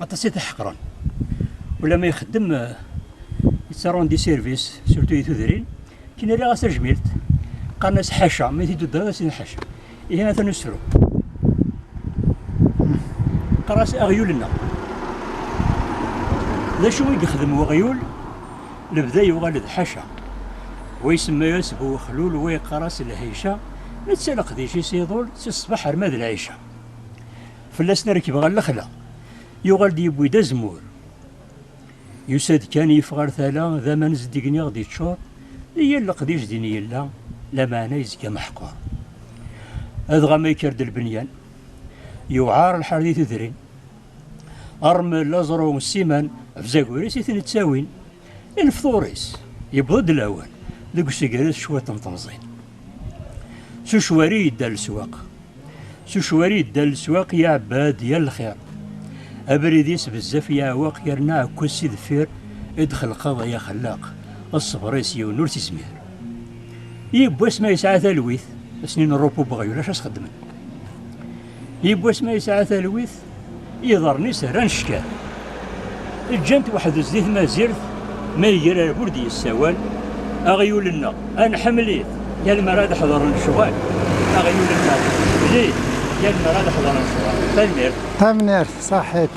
aṭas i t-ḥeqren wala ma ixeddem yettarundi di sirvis surtout i tudrin kin rriɣ as tajmilt qqaren as ḥaca ma t-id-uddeɣ as ḥaca ihi atan usefru qqar as aɣyul-nneɣ d acu i yexdem weɣyul lebda yuɣal d ḥaca wa isemma-yas bu wexlul wa yeqqar-as lhayca netta leqdic-is iḍul si ṣṣbeḥ ar ma d lɛica Fell-asen a rekbeɣ ar lexla. Yuɣal-d yewwi-d azemmur. Yusa-d kan yif ɣer tala, d aman zeddigen i ɣ-d-iččur, i yal leqdic din yella, lameɛna yezga meḥqur. Adɣa ma yekker-d lbenyan, yewɛar lḥal di tudrin. Armel, aẓru, ssiman, bzagur-is i ten-ittawin. I lefṭur-is, yewweḍ-d lawan, deg usegar-is cwiṭ n temẓi. S ucwari yedda leswaq. S ucwari yedda leswaq, iɛebba-d yal lxir. Abrid-is bezzaf yeɛweq yerna ɛekkez si deffir i d-xelqeḍ ay axellaq, ṣṣber-is yiwen ur t-izmir. Yiwwas ma yesɛa talwit, ass-nni n rrupu n weɣyul acu as-xeddmen? Yiwwas ma yesɛa talwit, Iḍarren-is rran cckal. Ǧǧan-t weḥd-s di tmazirt, ma iger ar bur d-yessawal, Aɣyul-nneɣ, ad nḥemmel-it, yal mi ara ad ḥedren lecɣal. Aɣyul-nneɣ, nḥemmel-it, yal mi ara ad ḥedren lecɣal. Tanemmirt. Tanemmirt, saḥit.